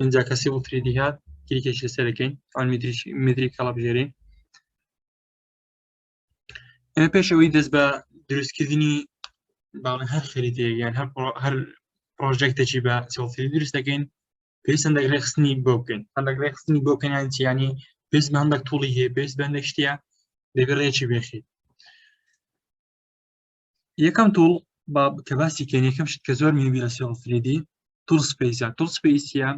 ئینجا کەسی بۆ فریدی هات کریکێکی لەسەرەکەین ئەو میدری کەڵە بژێرین ئێمە پێش ئەوەی دەست بە دروستکردنی باڵێ هەر خەریتێ یان هەر هەر پرۆژێکتێکی بە سڵفری دروست دەکەین پێویست هەندێک ڕێخستنی بۆ بکەین هەندێک ڕێخستنی بۆ بکەنیان چیانی پێست بە هەندێک توڵی هەیە پێست بەندێک شتە دەبێت ڕێکی بێخیت یەکەم تۆڵ با کە باسی کەن یەکەم شت کە زۆر میبی لە سێڵ فریدی تول سپیسە تول سپیسە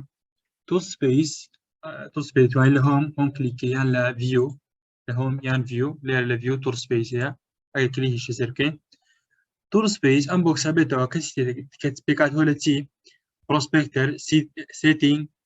تول سپیس تول سپیس وای لە هۆم هۆم کلیکە یان لە ڤیو لە هۆم یان ڤیو لێر لە ڤیو تول سپیسە ئەگە کلیکیشە سەر بکەین تول سپیس ئەم بۆکسە بێتەوە کەسی کە پێکات هۆ لە چی پرۆسپێکتەر سێتینگ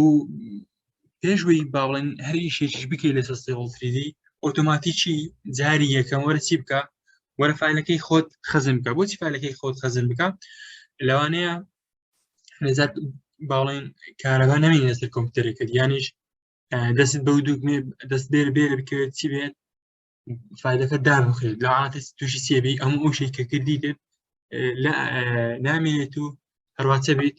و پێشوەی باڵێن هەر ئیشێکیش بکەی لە سەستێڵتریدی ئۆتۆماتیکی جاری یەکەم وەرە چی بکە وەرە فیلەکەی خۆت خەزم بکە بۆچی فیلەکەی خۆت خەزم بکە لەوانەیە نەزات باڵێن کارەبا نەمین لەسەر کۆمپیوتەرەکەت یانیش دەست بەو دووگمێ دەست بێر بێر بکەوێت چی بێت فیلەکە دابخێت لە عاتە تووشی سێبی ئەم ئەو شێکە کردی دێت نامێنێت و هەرواتە بیت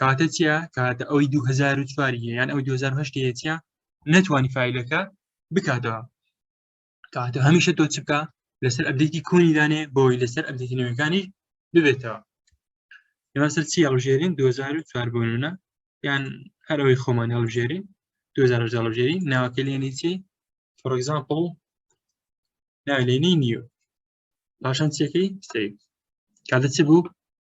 کاتە چیە کاتە ئەوی 2004 یان ئەو 2010 چیە نەتوانانی فیلەکە بکاتەوە کاتە هەمیشە تۆ چ بکە لەسەر ئەبدێتی کۆنیدانێ بۆی لەسەر ئەبدێتی نوێەکانی ببێتەوە مەسەر چی هەڵژێرین 2004 بوونە یان هەرەوەی خۆمان هەڵژێرین 2010 هەڵژێری ناوەکە لێنی چی فۆرگزانپڵ ناوێنی نیو پاشان چیەکەی سیف کاتە چ بوو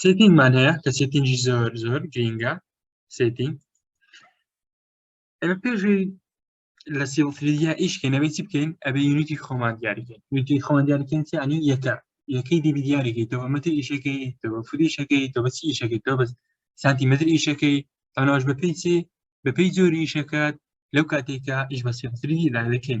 سێتینگمان هەیە کە سێتینگی زۆر زۆر گرینگە سێتینگ ئەمە پێشی لە سیڵفریدیا ئیشکەینەوەی چی بکەین ئەبێ یونیتی خۆمان دیاریکەین یونیتی خۆمان دیاریکەین چیانی یەکە یەکەی دیبی دیاریکەیتەوە مەتر ئیشەکەی تەوە فریشەکەی تەوە چی ئیشەکەی تەوە بەس سانتیمەتر ئیشەکەی تەناش بە پێی چی بەپی جۆری ئیشەکەت لەو کاتێکە ئیش بە سیڵفریدی لا دەکەین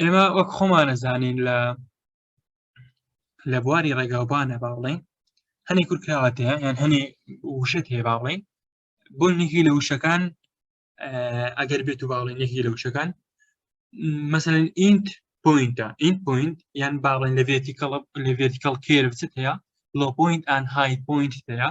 ئێمە وەک خۆمانەزانین لە لە بواری ڕێگاوبانە باڵێن هەنێ کورکراوەت هەیە یان هەنێ وشەت هەیە باڵێن بۆ نێکی لە وشەکان ئەگەر بێت و باڵێن نێکی لە وشەکان مثلەن ئینت پوینتە ئینت پوینت یان باڵێن لە ڤێتیکەڵ لە ڤێتیکەڵ کێربچت هەیە لۆ پوینت ئان های پوینت هەیە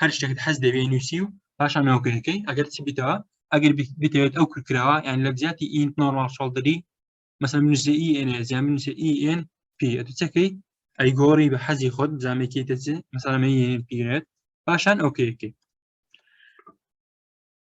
هەر شتێکت حەز دەوێ نووسی و پاشان ناوکەکەی ئەگەر چی بیتەوە ئەگەر بتەوێت ئەو کورکراوە یان لە جیاتی ئینت نۆرمال شڵدری مەسە منوسە ئی ئێن زیان منوسە ئی ئێن پی ئەتوچەکەی ئەی گۆڕی بە حەزی خۆت زامێکی دەچێت مەسەلەمە پیرێت پاشان ئەوکەیەکەی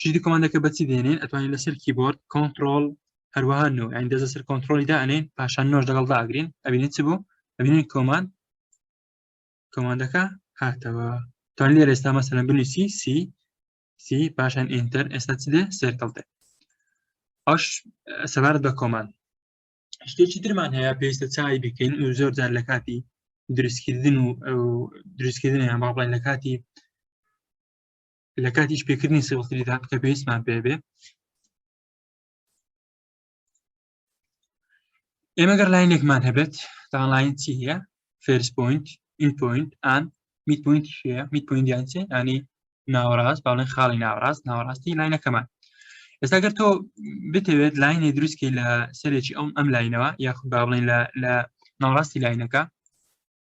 چیدی کۆمانەکە بەچی دێنین ئەتوانین لەسەر کیبۆرد کۆنتترۆل هەروەها نو ئەین دەزە سەر کۆنتترۆلی دانێن پاشان نۆش دەگەڵ داگرین ئەبینین چ بوو ئەبینین کۆمان کۆماندەکە هاتەوە توان لێ ئێستا مەسەن بنووسی سی سی پاشان ئینتەر ئێستا چ دێ سێرکەڵتێ ئەش سەبارەت بە کۆمان شتێکی درمان هەیە پێویستە چای بکەین و زۆر جار لە کاتی دروستکردن و دروستکردن یان باڵین لە کاتی لە کاتی شپێکردنی سێڵتریدا کە پێویستمان پێ بێ ئێمە گەر لاینێکمان هەبێت تاڵین چی هەیە فێرس پوینت این پوینت ئان میت پوینت شەیە میت پوینت یانچێ ئانی ناوەڕاست باڵێن خاڵی ناوەڕاست ناوەڕاستی لاینەکەمان ئێستا گەر تۆ بتەوێت لاینێ دروستکی لە سەرێکی ئەم ئەم لاینەوە یاخود با بڵێن لە ناوەڕاستی لاینەکە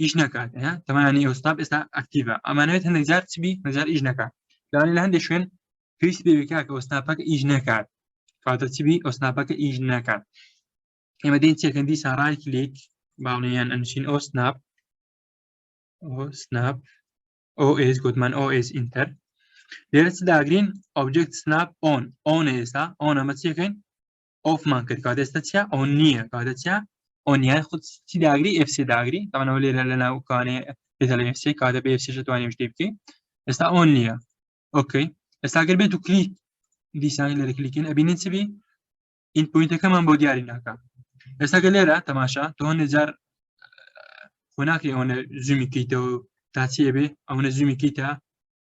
ئیش نکات تەمانی ئەوستا ئێستا ئەکتیڤە ئەمانوێت هەندێک جار چبی هەزار ئیش نکات لانی لە هەندێک شوێن پێویست بێکە کە ئەوسناپەکە ئیش نکات کاتە چبی ئەوسناپەکە ئیش نکات ئێمە دێن چێکەندی ساڕای کلیک باڵیان ئەنشین ئەو سناپ سناپ OS گوتمان OS ئینتەر لێرە چ داگرین ئۆبجێکت سناپ ئۆن ئۆن ئێستا ئەوەنە مەچەکەین ئۆفمان کرد کاتێستا چیا ئەو نییە کاتە چیا ئۆنیای خود چی داگری FC داگری تاانەوە لێرە لە ناوکانێ پێدەڵێ FC کاتە بێ FC توانێ شتێ بکەی ئێستا ئەو نییە ئۆکەی ئێستاگەر بێت و کلیک دیسانی لەرە کلیکن ئەبینین چ بی این پوینتەکەمان بۆ دیاری ناکە ئێستاگە لێرە تەماشا تۆ نەجار خۆناکری ئەوەنە زومی کەیتەوە تا چێ بێ ئەوەنە زومی کەیتە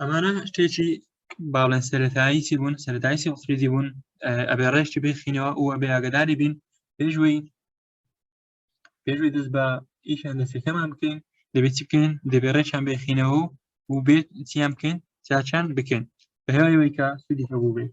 ئەمانە شتێکی باڵێن سەتایی چی بوون سەتایی سیخریدی بوون ئەبێ ڕێشتی بخینەوە و ئەبێ ئاگداری بین پێشوی پێشوی دەست بە ئیشان دەستەکەمان بکەین دەبێت چی بکەین دەبێ ڕێشان بخینەوە و بێت چیان بکەین چاچان بکەین بە هێوایەوەی کە سودی هەبوو بێت